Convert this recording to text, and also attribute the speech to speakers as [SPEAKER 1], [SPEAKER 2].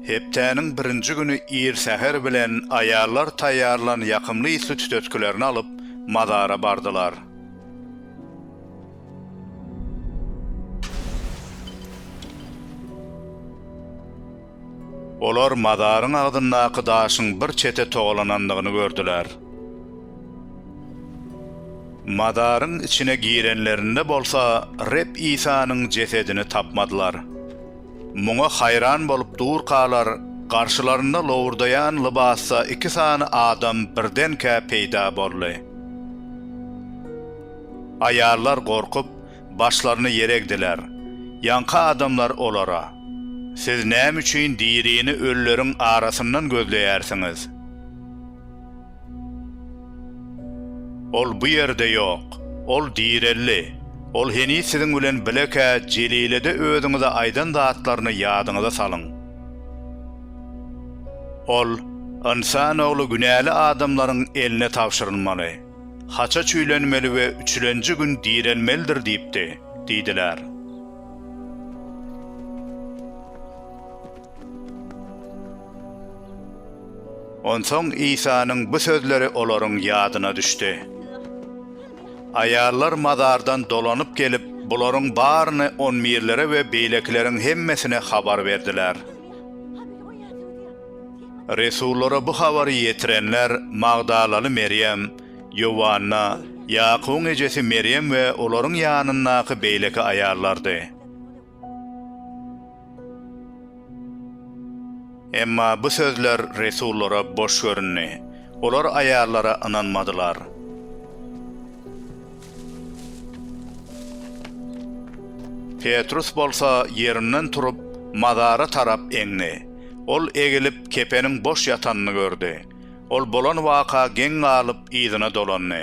[SPEAKER 1] Hepdäniň birinji güni ir säher bilen aýallar taýýarlan ýakymly ysly tütetgilerini alyp, mazara bardylar. Olar mazaryň agzyndaky daşyň bir çete togalanandygyny gördüler. Mazaryň içine girenlerinde bolsa Reb Isanyň jesedini tapmadylar. Muňa haýran bolup durkalar, garşylarynda lowurdaýan lybasda iki sany adam birdenkä peýda boldy. Aýallar gorkup, başlaryny ýere egdiler. Ýaňky adamlar olara, Siz näme üçin dirini ölüleriň arasyndan gözleýärsiňiz? Ol bu ýerde ýok, ol direldi. Ol heniz siziň bilen bilekä Jelilede özüňize aýdan zatlaryny ýadyňyza salyň. Ol, Ynsan Ogly günäli adamlaryň eline tabşyrylmaly. Haça çüýlenmeli we üçlenji gün direlmelidir diýipdi, diýdiler. Onsoň Isanyň bu sözleri olaryň ýadyna düşdi. Aýallar mazardan dolanyp gelip, bularyň baryny onbirlere we beýlekileriň hemmesine habar berdiler. Resullara bu habary ýetirenler magdalaly Merýem, Ýowanna, Ýakubyň ejesi Merýem we olaryň ýanyndaky beýleki aýallardy. Emma bu sözler resullara boş göründi. Olar aýallara ynanmadylar. Petrus bolsa ýerinden turup, mazara tarap eňdi. Ol egilip, kepeniň boş ýatanyny gördi. Ol bolan waka geň galyp, yzyna dolandy.